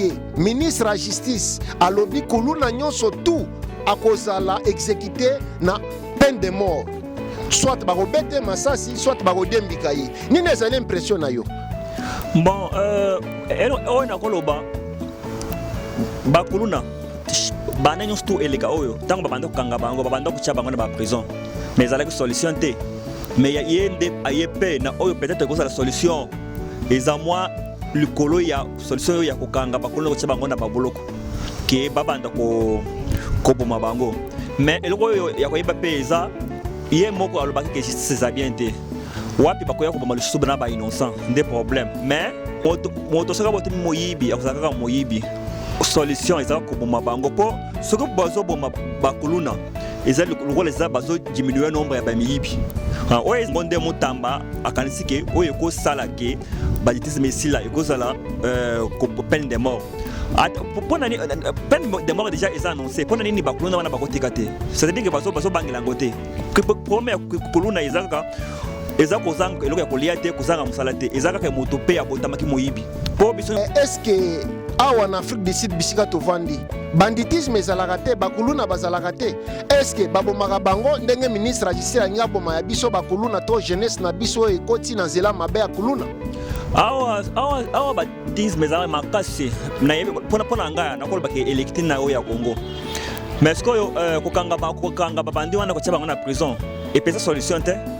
ye ministre ya justice alobi kuluna nyonso tout akozala exekite na peine de mort soit bakobete masasi soit bakodembika ye nini ezali impression na yo bon euh, oyo nakoloba bakuluna bana nyonso tu eleka oyo ntango babanda kokanga bango babanda kotya bango na baprison mais ezalaki solution te mais ye nde aye mpe na oyo peut-être ekozala solution eza mwa likolo ya solution oyo ya kokanga bakolo kotia bango na baboloko ke babanda koboma bango mais eloko oyo ya koyeba mpe eza ye moko alobaki ke justice eza bien te wapi bakoya koboma lisusu bana ba innocent nde problème mais moto soki abotami moyibi akozala kaka moyibi solution eza koboma bango mpo soki bazoboma bakuluna eza lokola eza bazodiminue nombre ya bamiyibi oyo yango nde motamba akanisi ke oyo ekosala ke Banditisme esila ekozala euh, peine de mort ah, pona ni euh, peine de mort déjà eza annoncé pona nini bakuluna wana bakotika te c'est-à-dire que bazo bazo bangela ngo te problème ya kuluna eza kaka eza kozanga eloko ya kolia te kozanga mosala te eza kaka moto mpe abotamaki moyibi mpo biso eh, eske awa na afrique du sud bisika tovandi banditisme ezalaka te bakuluna bazalaka te eske babomaka bango ndenge ministre ya justice alingi aboma ya biso bakuluna to jeunesse na biso oyo ekoti na nzela mabe ya kuluna awa awa awa batisme ezalaka makasi nayebi mpona mpona ngai nakolobaka elekti na oyo ya congo mais sikoyo euh, kokanga babandi wana kotia bango na prison epesa solution te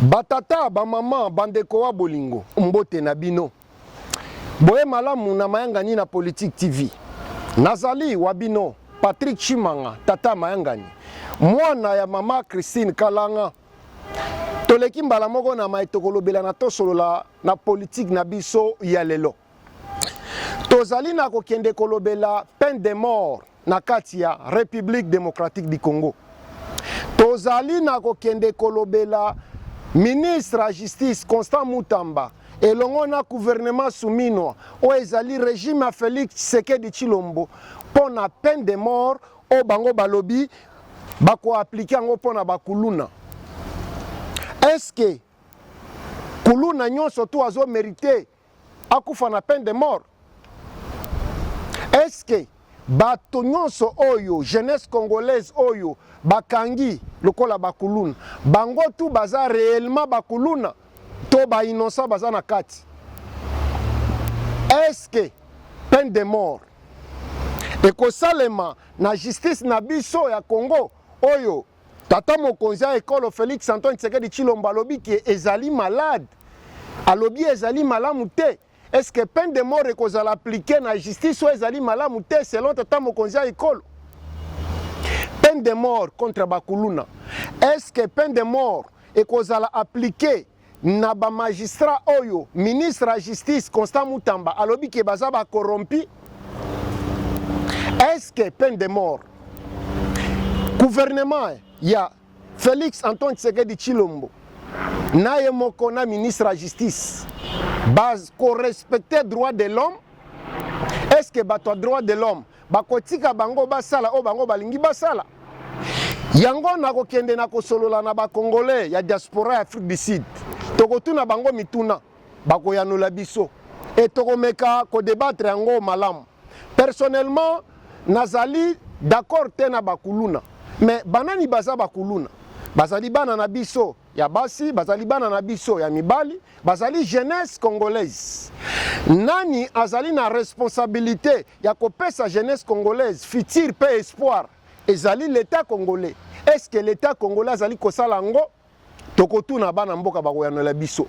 batata bamama bandeko wa bolingo mbote na bino boye malamu na mayangani na politique tv nazali wa bino patrick chimanga tata mayangani mwana ya mama christine kalanga toleki mbala moko na mai tokolobela na tosolola na politike na biso ya lelo Tozali na kokende kolobela peine de mort na kati ya Republique democratique du Congo. Tozali na kokende kolobela ministre ya justice Constant Mutamba elongo na gouvernement suminwa oyo ezali regime ya Felix Tshisekedi Tshilombo mpo na peine de mort oyo bango balobi bakoaplike yango mpo na bakuluna. Eske kuluna nyonso tu azomerite akufa na peine de mort est ce que bato nyonso oyo jeunesse congolaise oyo bakangi lokola bakuluna bango tu baza réellement bakuluna to ba innocent baza na kati est ce que peine de mort ekosalema na justice na biso ya congo oyo Tata mokonzi ya ekolo Felix Antoine Tshisekedi Tshilombo alobi ke ezali malade, alobi ezali malamu te. Est-ce que peine de mort ekozala appliquer na justice oyo ezali malamu te selon tata mokonzi ya ekolo? Peine de mort contre bakuluna. Est-ce que peine de mort ekozala appliquer na ba magistrat oyo ministre ya justice Constant Mutamba alobi ke baza ba corrompu est-ce que peine de mort gouvernement ya Felix Antoine Tshisekedi Chilombo na ye moko na ministre ya justice ba ko respecter droit de l'homme est-ce que bato ya droit de l'homme Bakotika bango basala oyo bango balingi basala. Yango nakokende na kosolola na bakongole ya diaspora ya Afrique du Sud, tokotuna bango mituna, bakoyanola biso e tokomeka kodebatre yango malamu. Personnellement, nazali d'accord te na bakuluna, mais banani baza bakuluna? Bazali bana na biso ya basi bazali bana na biso ya mibali bazali jeunesse congolaise nani azali na responsabilité ya kopesa jeunesse congolaise futur mpe espoir ezali l'etat congolais est ce que l'etat congolais azali kosala yango tokotuna bana mboka bakoyanola biso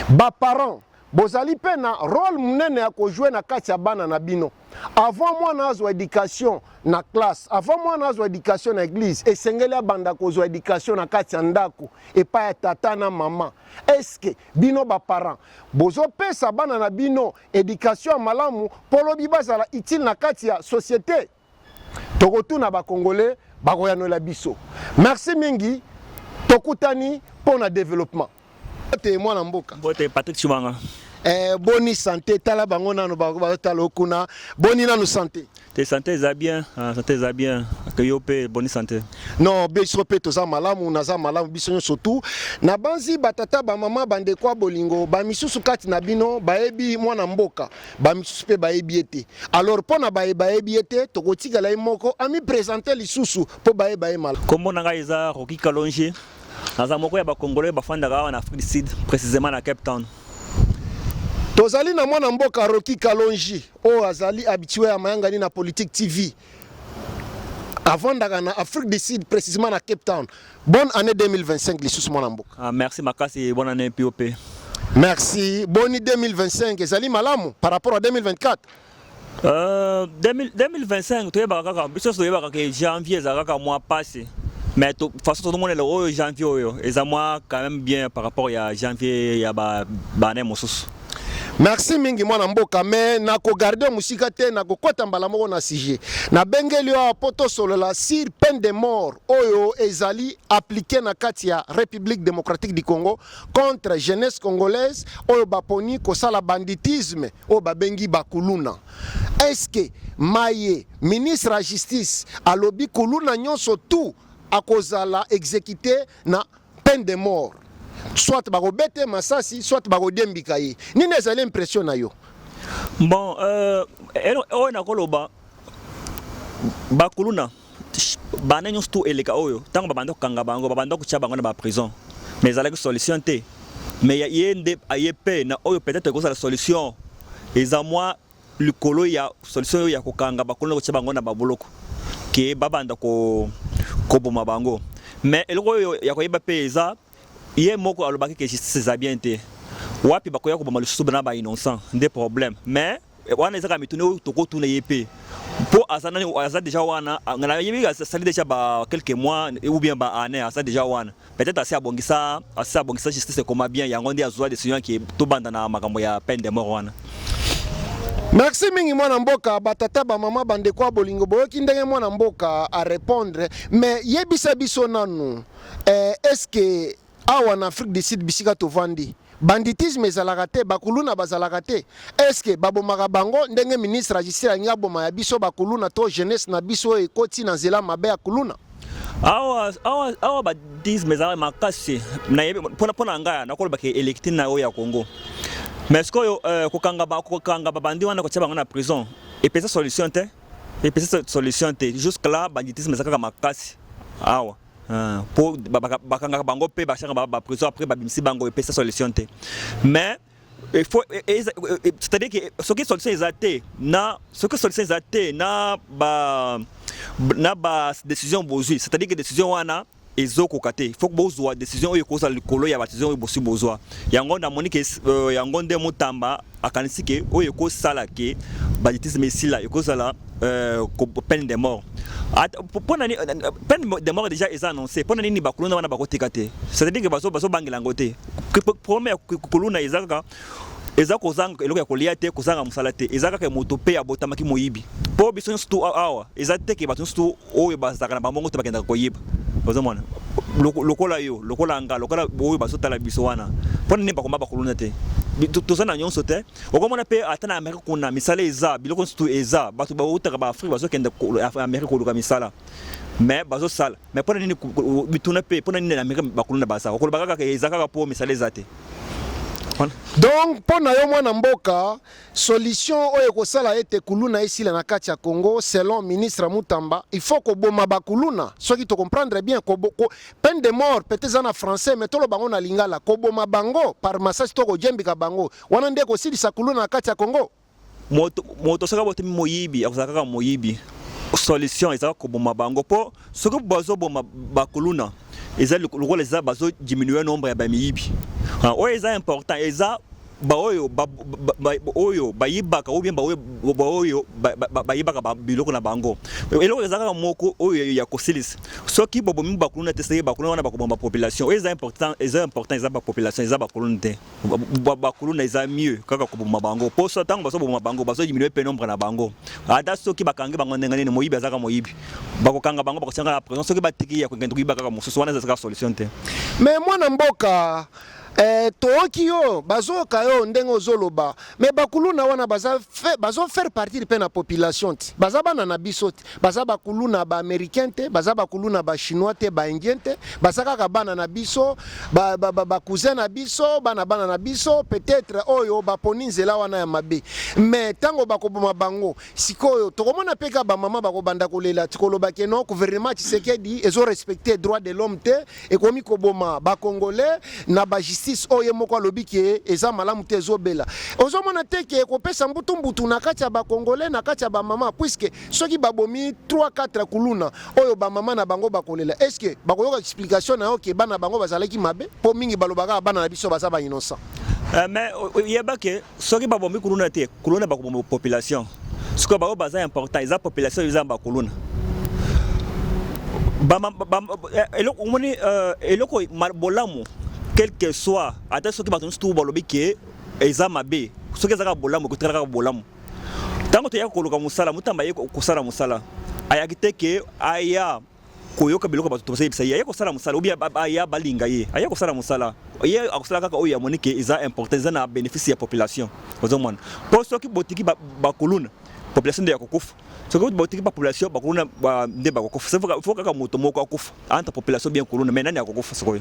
baparent Bozali mpe na role monene ya kojue na kati ya bana na bino. Avant mwana azwa education na classe, avant mwana azwa education na eglise, esengeli abanda kozwa education na kati ya ndako epai ya tata na mama. Eske bino baparent bozopesa bana na bino education ya malamu mpo lobi bazala utile na kati ya societe? tokotuna ba congolais bakoyanola biso merci mingi tokutani mpo na développement te mwana mboka mbote patrick chibanga eh, boni sante tala bango nano batala okuna boni nano sante te sante eza bien ah, sante eza bien ke yo mpe boni sante non biso mpe toza malamu naza malamu biso nyonso tu nabanzi batata bamama bandeko ya bolingo bamisusu kati na bino bayebi mwana mboka bamisusu mpe bayebi ye te alors mpo na baye bayebi ye te tokotikala ye moko amipresente lisusu mpo bayeba ye mala nkombo na ngai eza roki kalonge naza moko ya bacongolais bafandaka awa na afrique du sud précisément na cape town tozali na mwana mboka roki kalongi oyo azali habitue ya mayangani na politique tv avandaka na Afrique du Sud précisément na Cape Town. Bonne année 2025 lisusu mwana mboka. Ah, merci makasi, bonne année POP. Merci. Boni 2025 ezali malamu par rapport à 2024. Euh, 2025 toyebaka kaka biso toyebaka ke janvier ezalaka kaka mwa pasi mais to, façon tozomonela oyo janvier oyo eza mwa quand même bien par rapport ya janvier ya ba, ba année mosusu Merci mingi mwana mboka me nakogarde yo mosika te nakokɔta mbala moko na sujet nabengeli yo awa mpo tosolola sur peine de mort oyo ezali aplike na kati ya république démocratique du congo contre jeunesse congolaise oyo baponi kosala banditisme oyo babengi bakuluna eske maye ministre ya justice alobi kuluna nyonso tout akozala exécuté na peine de mort soit bakobeta ye masasi soit bakodiembika ye nini ezali impression na yo bon euh, oyo nakoloba bakuluna bana nyonso tu eleka oyo ntango babanda kokanga bango babanda kotya bango na baprison mais ezalaki solution te mais ye nde aye mpe na oyo peut-être ekozala solution eza mwa likolo ya solution oyo ya kokanga bakolo na kotia bango na baboloko ke babanda ko koboma bango mais eloko oyo ya koyeba mpe eza ye moko alobaki ke justice eza bien te wapi bakoya koboma lisusu bana ba innocent nde problème mais wana ezaka mituna oyo tokotuna ye mpe mpo aza nani aza deja wana nayebi asali deja ba quelques mois ou bien ba année aza deja wana peut-être asi abongisa asi abongisa justice ekoma bien yango nde azwa decision yake tobanda na makambo ya peine de mort wana merci mingi mwana mboka batata bamama bandeko ya bolingo boyoki ndenge mwana mboka arépondre mais yebisa biso nanu eh, est ce que awa na afrique du sud bisika tovandi Banditisme ezalaka te, ba kuluna bazalaka te, est ce que babomaka bango ndenge ministre ya justice alingi aboma ya biso ba kuluna to jeunesse na biso oyo ekoti na nzela mabe ya kuluna? awa awa awa badisme ezalaka makasi mpona ngai nakoloba ke elekti na oyo ya congo mais sikoyo euh, kokanga babandi wana kotia bango na prison epesa solution te epesa solution te jusque là banditisme eza kaka makasi awa Ah, po bakangaka bango mpe bashaka ba prison après babimisi bango epesa solution te mais il faut e, e, e, c'est-à-dire que soki solution eza te na soki solution eza te na ba na ba décision bozwi c'est-à-dire que décision wana ezokoka te faut bozwa décision oyo ekozala likolo ya badecision oyo bosi bozwa yango namoni ke euh, yango nde motamba akanisi ke oyo ekosala ke banditisme esila ekozala euh, peine de mort ah, pona ni euh, peine de mort déjà eza annoncé pona nini bakuluna wana bakotika te c'est-à-dire que bazo bazo bangela ngo te problème ya kuluna eza kaka eza kozanga eloko ya kolia te kozanga mosala te eza kaka moto mpe abotamaki moyibi mpo biso nyonso tu awa eza te ke bato nyonso tu oyo bazalaka na bango moko te bakendaka koyeba ozomona lokola yo lokola nga lokola oyo bazotala biso wana mpo nini bakoma bakuluna te toza na nyonso te okomona mpe ata na amerika kuna misala eza biloko nyonso tu eza bato bautaka baafrike bazokende amerika koluka misala mais bazosala mais mpo na nini bituna mpe mpo na nini na amerika bakuluna baza okoloba kaka eza kaka mpo misala eza te donc mpo na yo mwana mboka Solution oyo ekosala ete kuluna esila na kati ya Congo selon ministre Mutamba il faut koboma ba kuluna soki to comprendre bien ko, ko, peine de mort peut eza na français mais toloba ngo na lingala koboma bango par massage to kojembika bango wana nde kosilisa kuluna na kati ya Congo moto moto saka bote moyibi akozala kaka moyibi solution eza koboma bango po soki bazoboma bakuluna eza lokola eza bazo diminuer nombre ya bamiyibi ah, oyo eza important eza baoyo oyo bayibaka ou bien baoyo baoyo bayibaka biloko na bango eloko eza kaka moko oyo ya kosilisa soki bobomi bakuluna te soki bakuluna wana bakoboma population oyo eza important eza important eza bapopulation eza bakuluna te bakuluna eza mieux kaka koboma bango mpo so ntango bazoboma bango bazodiminue mpe nombre na bango ata soki bakangi bango ndenge nini moyibi azaka moyibi bakokanga bango bakotianga na présent soki batiki ya kokende koyiba kaka mosusu wana ezazaka solution te mais mwana mboka Eh tooki yo bazooka yo ndenge ozo loba mais bakuluna wana baza fe, bazo faire partir pe na population te baza bana na biso te baza bakuluna ba americain te baza bakuluna ba chinois te ba indien te baza kaka bana na biso ba, ba, ba, ba cousin na biso bana bana na biso peut-être oyo baponi nzela wana ya mabe mais tango bakoboma bango sikoyo tokomona pe ka ba mama bakobanda kolela tikoloba ke non gouvernement Tshisekedi ezo respecter droit de l'homme te ekomi koboma ba congolais na ba justice oyo ye moko alobi ke eza malamu te ezobela ozomona te ke ekopesa mbutu mbutu na kati ya ba congolais na kati ya ba mama puisque soki babomi 3 4 kuluna oyo ba mama na bango bakolela est ce que bakoyoka explication na yo ke bana bango bazalaki mabe po mingi balobaka bana na biso baza ba innocent eh, mais oyebake soki babomi kuluna te kuluna bakoboma population sikoyo baoyo baza important eza population eza ba kuluna eh, eloko omoni eh, eloko bolamu quelque soit ata soki bato nyonso tu balobi ke eza mabe soki ezaka bolamu ekotikala kaka bolamu ntango toyaka koluka mosala motamba ye kosala mosala ayaki te ke aya koyoka biloko bato tosa yebisa ye aye kosala mosala obi aya balinga ye aye kosala mosala ye akosala kaka oyo amoni ke eza important eza na bénéfice ya population ozomona mpo soki botiki bakuluna population nde ya kokufa soki botiki bapopulation bakuluna nde bakokufa fo kaka moto moko akufa entre population bien kuluna mai nani akokufa sikoyo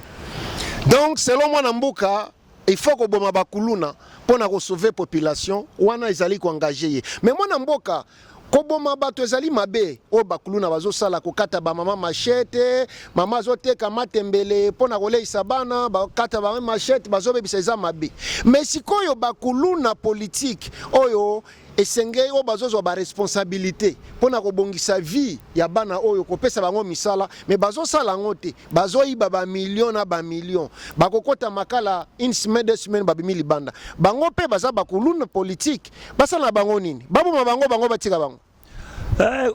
donc selon mwana mboka il faut koboma bakuluna mpo na kosauve population wana ezali koengage ye me mwana mboka koboma bato ezali mabe oyo bakuluna bazosala kokata bamama machete mama azoteka matembele mpo na koleisa bana bakata bama machete bazobebisa eza mabe me sikoyo bakuluna politike oyo Esengei oyo bazozwa ba responsabilite mpo na kobongisa vie ya bana oyo kopesa bango misala me bazosala yango te, bazoyiba ba million na ba million, bakokota makala une semaine deux semaines babimi libanda. Bango mpe baza bakuluna politique, basala na bango nini? Baboma bango bango batika bango? Eh,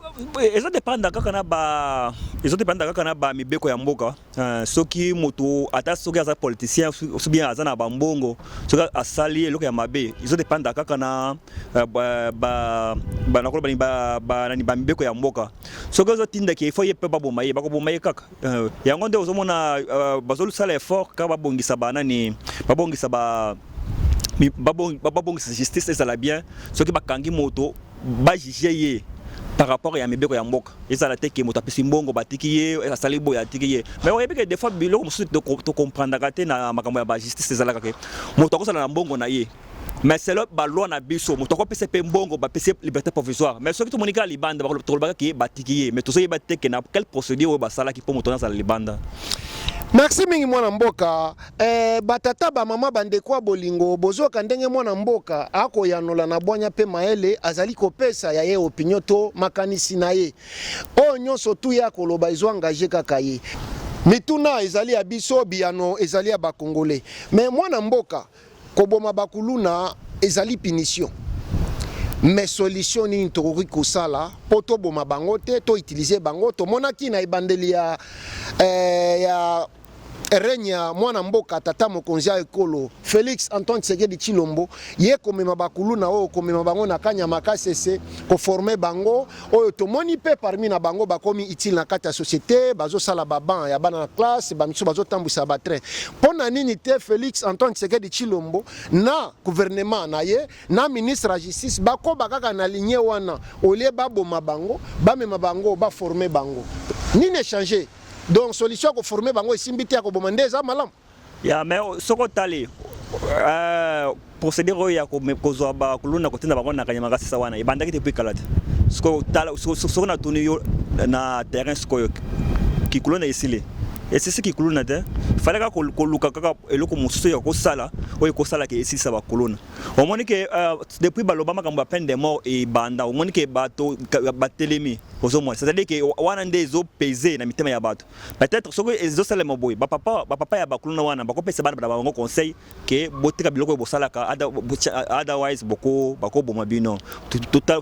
ezo depanda kaka na ba ezo depanda kaka na ba mibeko ya mboka. Euh, soki moto ata soki aza politicien soki bien aza na bambongo soki asali eloko ya mabe ezo depanda kaka na euh, banakolo balingi banani bamibeko ya mboka soki ozotindaki efo ye mpe baboma ye bakoboma ye kaka euh, yango nde ozomona bazosala effort kaka babongisa banani babongisa ba babongisa justice ezala bien soki bakangi moto ba juger ye par rapport ya mibeko ya mboka ezala te ke moto apesi mbongo batiki ye asali boye atiki ye mais oyebi ke des fois biloko mosusu tocomprendaka te na makambo ya ba justice ezalaka ke moto akozala na mbongo na ye mais selon ba loi na biso moto akopesa mpe mbongo bapesi liberté provisoire mais soki tomoni kaka libanda tokolobaka ke batiki ye mais tozoyeba te ke na quelle procédure oyo basalaki mpo moto wana azala libanda Merci mingi mwana mboka. Eh ba tata ba mama ba ndeko ya bolingo bozoka ndenge mwana mboka akoyanola na bwanya mpe mayele azali kopesa ya ye opinion to makanisi na ye oyo nyonso tu ye akoloba ezo engage kaka ye mituna ezali ya biso biyano ezali ya bakongole me mwana mboka koboma bakuluna ezali punition me solution nini tokoki kosala mpo toboma bango te to utilize bango tomonaki na ebandeli ya, eh, ya règne ya mwana mboka tata mokonzi ya ekolo Felix Antoine Tshisekedi Tshilombo ye komema bakuluna oyo komema bango na kanyama kasese koforme bango oyo tomoni mpe parmi na bango bakomi utile na kati ya societe bazosala baban ya bana na classe bamisu bazotambwisa batrain mpo na nini te Felix Antoine Tshisekedi Tshilombo na gouvernement na ye na ministre ya justice bakoba kaka na ligne wana olie baboma bango bamema bango baforme bango nini echange Donc solution ko former bango esimbi te ya koboma nde eza malamu. Ya mais soko tali euh, procédure oyo ya kozwa bakuluna kotinda bango na kanyama kasisa wana ebandaki depuis kala te soko natuni yo na terrain sikoyo kikuluna esili esisi kikuluna te fale kaka koluka kaka eloko mosusu ya kosala oyo ekosalaka esilisa bakuluna omoni ke euh, depuis baloba makambo ya peine de mort ebanda omoni ke bato batelemi Ozo mona c'est-à-dire que wana nde ezo peser na mitema ya bato. Peut-être soki ezo salema boye ba papa ba papa ya ba kuluna wana bako pesa bana na bango conseil que botika biloko oyo bosalaka otherwise boko bako boma bino.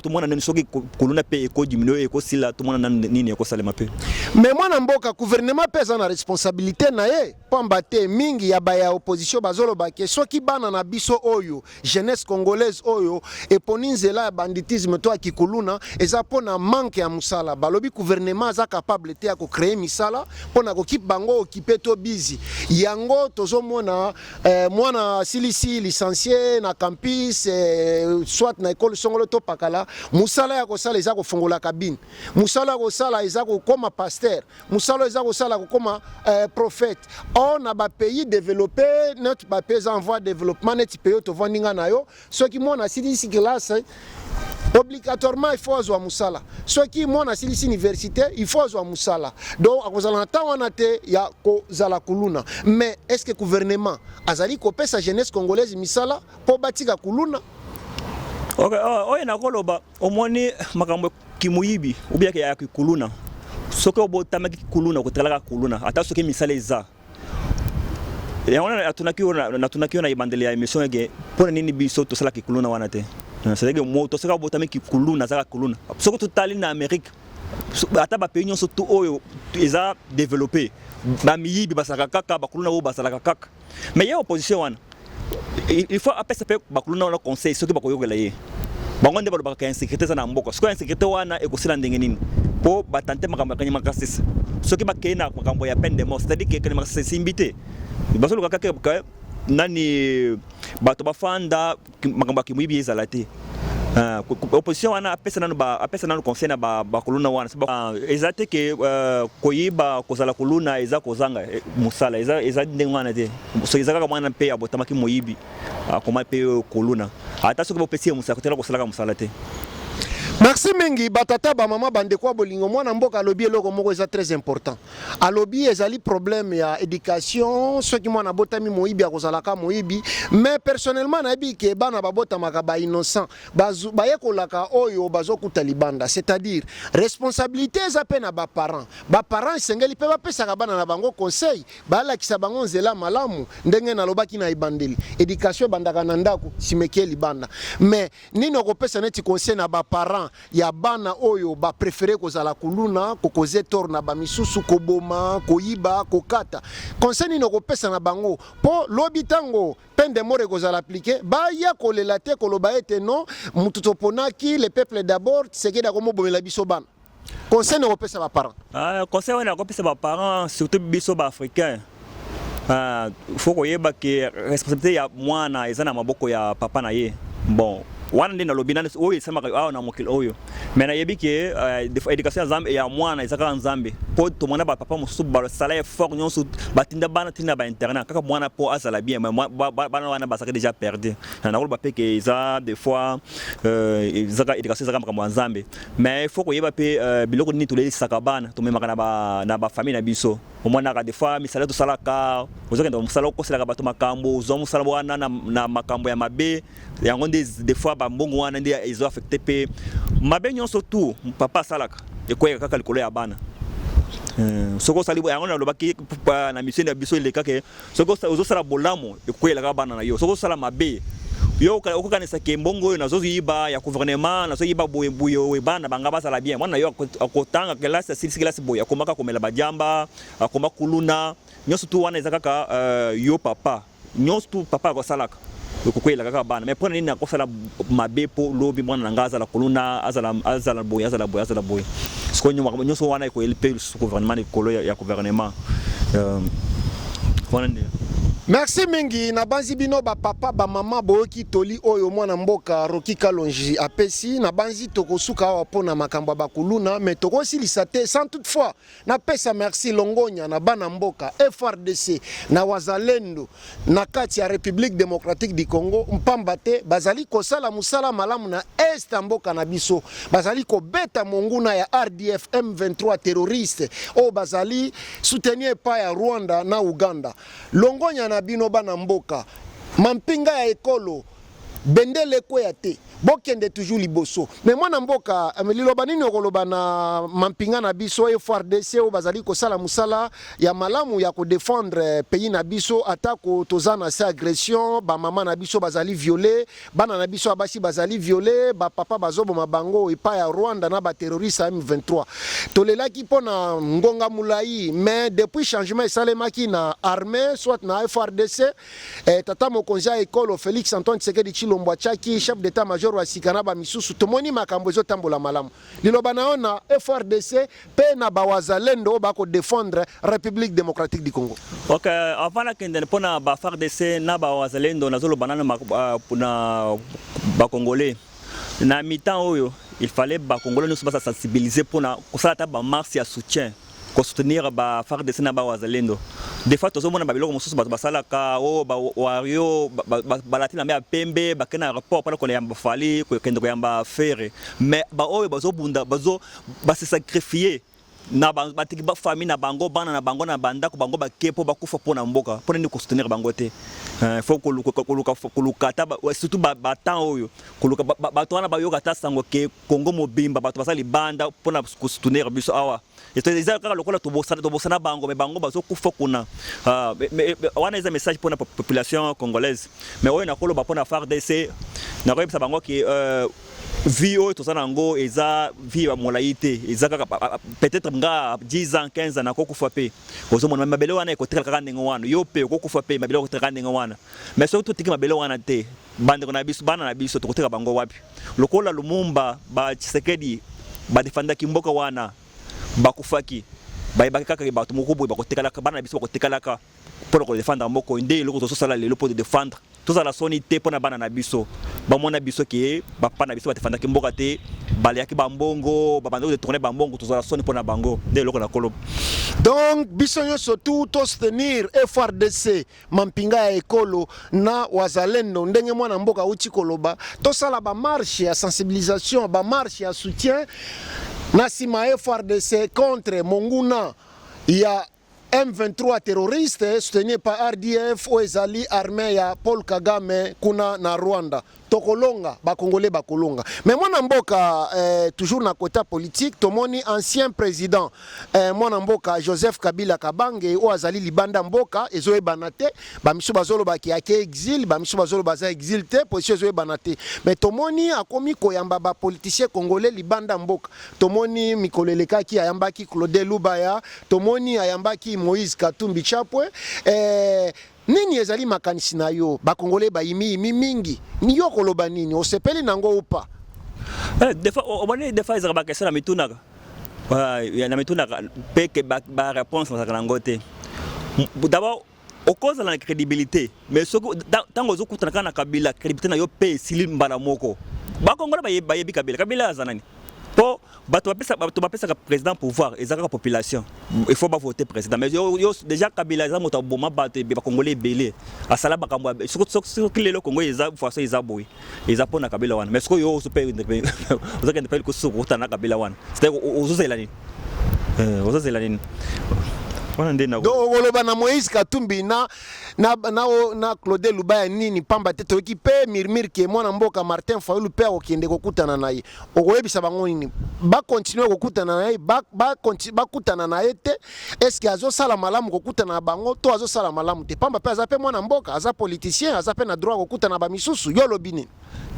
Tomona nani soki kuluna pe eko diminuer eko sila tomona nani nini eko salema pe. Mais mwana mboka gouvernement pe aza na responsabilite naye. Pamba te mingi ya ba ya opposition bazoloba ke soki bana na biso oyo jeunesse congolaise oyo eponi nzela ya banditisme to ya kikuluna eza mpo na manque ya mosala. Balobi gouvernement aza capable te ya ko creer misala mpo na kokip bango okipe to bizi. Yango tozomona eh, mwana asilisi licencie na campus eh, soit na ekolo songolo to pakala, mosala ya kosala eza kofongola kabine, mosala ya kosala eza kokoma pasteur. musala eza kosala kokoma euh, prophète or na ba pays développé notre ba pays en voie développement neti pays oyo tovandi nga na yo soki mwana asilisi classe obligatoirement il faut azwa mosala soki mwana asilisi université il faut azwa mosala donc akozala na ntango wana te ya kozala kuluna mais est ce que gouvernement azali kopesa jeunesse congolaise misala mpo batika kuluna okay, oh, oyo nakoloba omoni makambo kimuyibi obiaka ya kikuluna soki obotamaki kikuluna okotalaka kuluna ata soki misala eza yango natunaki yo natunaki yo na ebandeli ya emission ege mpo na nini biso tosala kikuluna wana te cetadire moto soki abotami kikuluna azaka kuluna soki totali na amérique ata bapays nyonso to oyo eza développé bamiyibi basalaka kaka bakuluna oyo basalaka kaka mais ye opposition wana il faut apesa mpe bakuluna wana conseil soki bakoyokela ye bango nde balobaka ya insécurité eza na mboka sikoyo insécurité wana ekosila ndenge nini mpo batante makambo ya kanyama kasese soki bakei na makambo ya peine de mort c'est à dire ke kanyama kasese esimbi te bazoluka kaka nani bato bafanda makambo ya kimoyibi ezala te ah, opposition wana apesa nanu apesa nanu conseil na bakoluna wana ah, eza te ke euh, koyiba kozala koluna eza kozanga eh, mosala eza, eza ndenge wana te soki eza kaka mwana mpe abotamaki moyibi akoma ah, mpe koluna ata soki bopesi ye mosala kotela kosalaka mosala te merci mingi batata bamama bandeko ya bolingo mwana mboka alobi eloko moko eza très important alobi ezali problème ya education soki mwana abotami moyibi akozalaka moyibi mais personnellement nayebi ke bana babotamaka ba innocent bayekolaka oyo bazokuta libanda c'est-à-dire responsabilité eza mpe na baparent baparent esengeli mpe bapesaka bana na bango conseil balakisa bango nzela malamu ndenge nalobaki na ebandeli education ebandaka na ndako simeki libanda mais nini okopesa neti conseil na baparent ya bana oyo ba prefere kozala kuluna kokoze tor na bamisusu koboma koyiba kokata conseil nini okopesa na bango mpo lobi ntango peine de mort ekozala aplike baya kolela te koloba ete non motu toponaki le peuple d'abord tisekedi akomobomela biso bana conseil nini okopesa baparent ah, conseil wana akopesa baparent surtout biso baafricain Ah, faut koyeba que responsabilité ya mwana eza na maboko ya papa na ye. Bon, wana nde nalobi nani oyo esamaka awa na mokili oyo me nayebi ke uh, education ya nzambe ya mwana eza kaka nzambe mpo tomona bapapa mosusu basala effort nyonso batinda bana tinda ba internat kaka mwana mpo azala bien bana wana bazalaki déjà perdu na nakoloba mpe ke eza des fois euh, ezaka education ezaka makambo ya nzambe mais il faut koyeba mpe euh, biloko nini tolelisaka bana tomemaka na bafamille na biso omonaka des fois misala tosalaka ozokenda mosala okoselaka bato makambo ozwa mosala wana na, na makambo ya mabe yango nde des fois bambongo wana nde ezo affecte mpe mabe nyonso tu papa asalaka ekweyaka kaka likolo ya bana euh, soki osali yango nalobaki na misio na biso elekaka soki ozosala bolamu ekokweyela kaka bana na yo soki ozosala mabe yo okokanisa ke mbongo oyo nazoyiba ya gouvernement nazoyiba boye boye oyo bana na banga bazala bien mwana na yo akotanga kelasi asilisi kelasi boye akomaka komela badiamba akoma kuluna nyonso tu wana eza kaka euh, yo papa nyonso tu papa akosalaka Lokuku elaka kaka bana. Mais pona nini nakosala mabe po lobi mwana na nga azala kuluna, azala azala boye, azala boye, azala boye. Siko nyoko nyoso wana eko elpe lisusu gouvernement likolo ya, ya gouvernement. Euh, wana nde Merci mingi na banzi bino ba papa ba mama boyoki toli oyo mwana mboka Rocky Kalonji apesi na banzi tokosuka awa pona makambo ya bakuluna mais tokosilisa te sans toutefois Napesa merci Longonya na bana mboka FRDC na wazalendo na kati ya Republique Democratique du Congo mpamba te bazali kosala mosala malamu na est ya mboka na biso, bazali kobeta monguna ya RDF M23 terroriste oyo bazali soutenir epai ya Rwanda na Uganda. Longonya na bino bana mboka, mampinga ya ekolo bendele ekweya te. Bokende toujours liboso. Mais mwana mboka, liloba nini okoloba na mampinga na biso et FARDC oyo bazali kosala musala ya malamu ya ko defendre pays na biso ata ko toza na se agression, ba mama na biso bazali viole, bana na biso ya basi bazali viole, ba papa bazoboma bango epa ya Rwanda na ba terroriste ya M23. Tolelaki pona ngonga mulayi mais depuis changement esalemaki na armee soit na FARDC, Eh, tata mokonzi ya ekolo Felix Antoine Tshisekedi Tshilombo atiaki chef d'etat major wa sika na bamisusu. Tomoni makambo ezotambola malamu. Liloba na yo na FRDC pe na bawazalendo oyo bako defendre Republique democratique du Congo. Ok, avant nakende mpo na ba FRDC na bawazalendo nazoloba nano ah, na bakongolais na mitan oyo il fallait bakongolais nyonso basa sensibiliser mpo na kosala ata bamarse ya soutien ko soutenir ba FARDC na ba wazalendo de fois tozomona ba biloko mosusu bato basalaka o oh, ba wario balati na mbe ya pembe bakende na aéroport mpona koyamba fali kokende koyamba fere mais baoyo bazobunda bazo base sacrifie na batiki bafamille na bango bana na bango na bandako bango bake mpo bakufa mpo na mboka mpo na nini kosoutenir bango te eh, fo koluka ata surtout batemps oyo koluka bato wana bayoka ata sango ke Congo mobimba bato baza libanda mpo na kosoutenir biso awa eza kaka lokola tobosana tobosana bango me bango bazokufa kuna ah, wana eza message mpo na population congolaise me oyo nakoloba mpo na fardc nakoyebisa bango ke euh, vie oyo toza na yango eza vie ya molai te eza kaka peut-être nga 10 ans 15 ans nakokufa mpe ozomona mabele wana ekotikala kaka ndenge wana yo mpe okokufa mpe mabele ekotikala kaka ndenge wana mais soki totiki mabele wana te Bandeko na biso, bana na biso tokoteka bango wapi? Lokola Lumumba, ba Tshisekedi ba defendaki mboka wana bakufaki bayebaki kaka bato moko boye bakotekalaka bana na biso bakotekalaka mpo na kodefendre moko nde eloko tozosala lelo mpo todefendre tozala soni te mpo na bana na biso bamona biso ke bapapa na biso badefendaki mboka te baleyaki bambongo babandaki detourne bambongo tozala soni mpo na bango nde eloko na koloba donc biso nyonso tu tostenir frdc mampinga ya ekolo na wazalendo ndenge mwana mboka auti koloba tosala bamarshe ya sensibilisation bamarshe ya soutien na nsima frdc contre monguna ya M23 terroriste soutenu par RDF oyo ezali armée ya Paul Kagame kuna na Rwanda. tokolonga ba congolais bakolonga mais mwana mboka eh, toujours na kota politique tomoni ancien président eh, mwana mboka joseph kabila kabange oyo azali libanda mboka ezoyebana te bamisu bazolobaki ake exil bamisu bazoloba aza exil te position ezoyebana te mais tomoni akomi koyamba bapoliticien congolais libanda mboka tomoni mikolo elekaki ayambaki claude lubaya tomoni ayambaki moïse katumbi chapwe eh, Nini ezali makanisi na yo? Ba congolais ba yimi yimi mingi. Yo okoloba nini? Osepeli na ngo ou pas? Eh, des fois, on est des fois, ils ont pas question, mais tout n'a pas. Il y a tout n'a pas. Peut que ba ba réponse dans la langue té. D'abord, au cause de la crédibilité, mais ce que tant que vous écoutez la canne Kabila, crédibilité n'a yo payé Silim Balamoko. Ba Congolais ba yé ba yé Kabila, Kabila azanani. Po bato bapesaka bato bapesaka président pouvoir eza kaka population il faut ba voter président mais yo, yo déjà kabila eza moto aboma bato ebe bakongole ebele asala makambo soki lelo kongo eza façon eza boye eza mpo na kabila wana mais soki yo ozo mpe ozokende mpe likosusu kokutana na kabila wana c'est-à-dire ozozela nini eh, ozozela nini wana nde na donc okoloba na moïse katumbi na, na, na, na claude lubaya nini mpamba te toyoki mpe mirmire ke mwana mboka martin fayulu mpe akokende kokutana na ye okoyebisa bango nini bakontinue kokutana na ye bakutana na ye te eske azosala malamu kokutana na bango to azosala malamu te pamba mpe aza mpe mwana mboka aza politicien aza mpe na droit kokutana na bamisusu yo olobi nini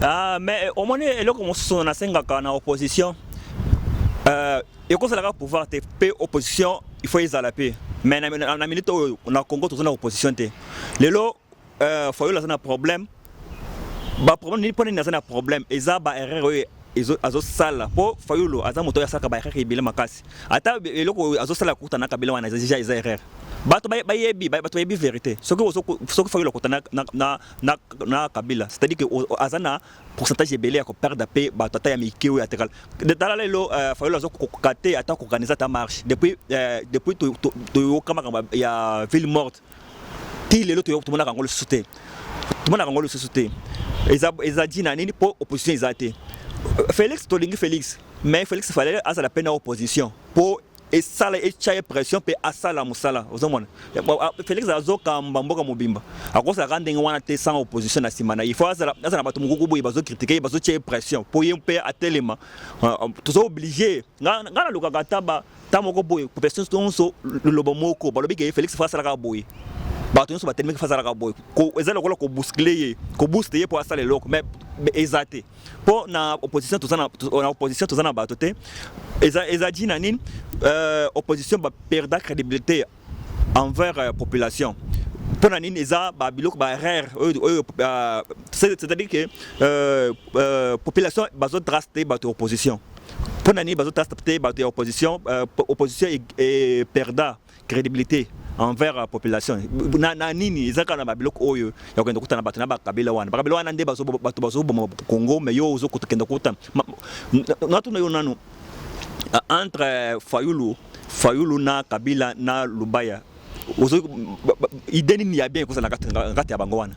ah, mais eh, omoni eloko mosusu nasengaka na opposition euh, ekozalaka pouvoir te mpe opposition il faut ezala mpe mais na minute oyo na congo toza na opposition te lelo Euh, Fayulu aza na problème ba problème nini mpo nini aza na problème eza ba erreur oyo azosala mpo Fayulu aza moto oyo asalaka ba erreur ebele makasi ata eloko oyo azosala kokuta na Kabila wana deja eza erreur bato bayebi bato bayebi verité soki soki Fayulu akota na, na, na, na, na Kabila c'est-à-dire que aza na pourcentage ebele ya koperdre mpe bato ata ya mike oyo atekala tala lelo euh, Fayulu aza kokoka te ata koorganize ata marche depuis, euh, depuis toyoka makambo ya ville morte ti lelo tomonaka yango lisusu te tomonaka yango lisusu te eza eza dina nini mpo opposition eza te Felix tolingi Felix mais Felix fallait azala pe na opposition po esala etya ye pression mpe asala mosala ozomona felix azokamba mboka mobimba akosalaka ndenge wana te sans opposition na nsima na ye fo azala na bato mokuku boye bazokritike ye bazotya ye pression mpo ye mpe atelema toza oblige ngai nalukaka ata ta moko boye population nyonso lolobo moko balobi ke Felix fa asalaka boye bato nyonso batelemeki fa asalaka boye eza lokola kobuskle ye kobuste ye mpo asala eloko mais eza te mpo na opposition toza na opposition toza na bato te eza eza ji na nini euh, opposition baperda crédibilité envers euh, population mpo na nini eza ba biloko ba rare oyo euh, c'est-à-dire que euh, euh, population bazo trace te bato ya opposition mpo na nini bazo trace te bato ya opposition euh, opposition e, e perda crédibilité envers la euh, population na, na nini eza kaka na babiloko oyo ya kokenda kokutana bato na bakabila wana bakabila wana nde bato bazoboma congo mais yo ozokokenda kokutana natuna yo nanu entre euh, fayulu fayulu na kabila na lubaya ozo idée nini ya bien ekozala na kati ya bango wana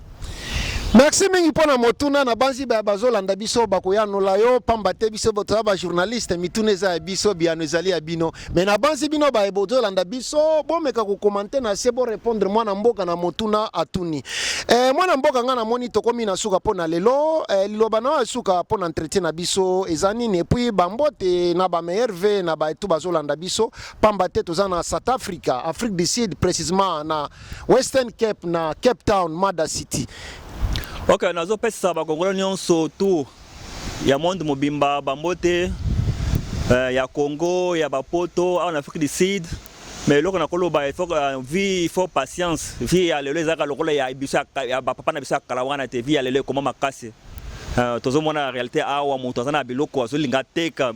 merci mingi mpo na motuna na banzi baye bazolanda biso bakoyanola yo mpamba te biso toza bajournaliste mituna eza ya biso biyano ezali ya bino me na banzi bino baye bozolanda biso bomeka kokomante na se borepondre mwana mboka na motuna atuni Eh, mwana mboka nga namoni tokomi na suka mpo na lelo eh, liloba na oyo suka mpo na entretien na biso eza nini epuis bambote na bameerve na baetu bazolanda biso pamba te toza na south africa afrique du sud précisement na western cape na cape town mada city ok nazopesa bakongolo nyonso tour ya monde mobimba bambote eh, ya congo ya bapoto awa na afrique du sud mais eloko nakoloba il faut euh, vie il faut patience vie ya lelo ezalaka lokola ya biso ya bapapa na biso ya kala wana te vie ya lelo ekoma makasi euh, tozomona réalité awa moto aza na biloko azolinga ateka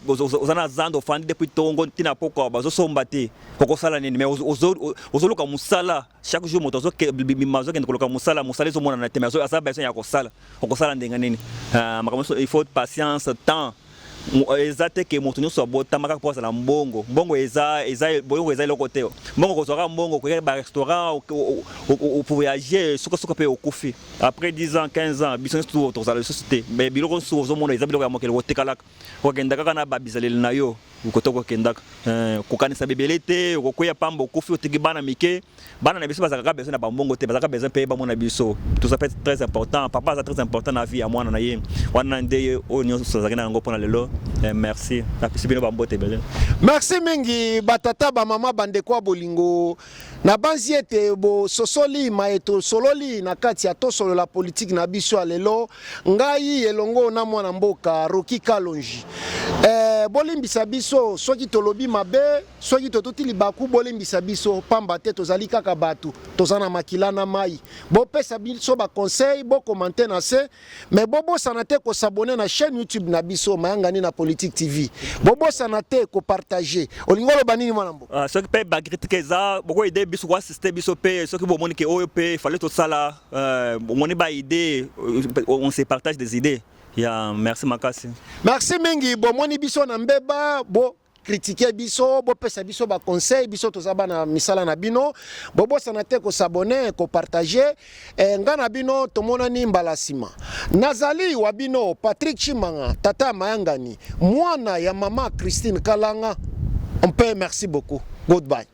oza na zando ofandi depuis tongo ntina pokwa bazosomba te okosala nini mais ozoluka mosala chaque jour moto azobima azokende koluka mosala mosala ezomonana te mais aza besoin ya kosala okosala ndenge nini ah, makambo nyonso il faut patience temps eza te ke moto nyonso abotama kaka mpo azala mbongo mbongo eza eza boyoko eza eloko te mbongo kozwa kaka mbongo okoyaka barestaurant ovoyage sukasuka mpe okufi après 10 ans 15 ans biso nyonso tozala lisusu te mais biloko nyonso ozomona eza biloko ya mokili kotekalaka Okokenda kaka na ba bizaleli na yo kote okokendaka eh, kokanisa bebele te okokweya pamba okufi otiki bana mike bana na biso bazalaka kaka besoin na bambongo te bazalaka besoin mpe bamona biso tout ça fait très important papa aza très important na vie ya mwana na ye wana nde oyo nyonso azalaki na yango mpo na lelo eh, merci napesi bino bambote ebele merci mingi batata bamama bandeko ya bolingo Nabanzi ete bososoli maye tosololi na kati ya tosolola politiki na biso ya lelo, ngai elongo na mwana mboka Rocky Kalonji. Eh, bolimbisa biso soki tolobi mabe, soki totuti libaku, bolimbisa biso pamba te tozali kaka bato, toza na makila na mai. Bopesa biso ba conseil, bokomante na se Mais bobosana te ko s'abonner na chaîne YouTube na biso Mayangani na Politique TV. Bobosana te ko partager. Olingo loba nini mwana mbo? Ah, soki pe ba critique eza boko aider biso ko assister biso pe soki bo moni ke oyo pe fallait to sala euh moni ba idée euh, on se partage des idées. Ya yeah, merci makasi. Merci mingi bomoni biso na mbeba bo critiquer biso bopesa biso ba conseil biso toza bana misala na bino bobosana te ko s'abonner ko partager eh, nga na bino tomonani mbala nsima nazali wa bino Patrick Chimanga tata mayangani mwana ya mama Christine Kalanga mpe merci beaucoup goodbye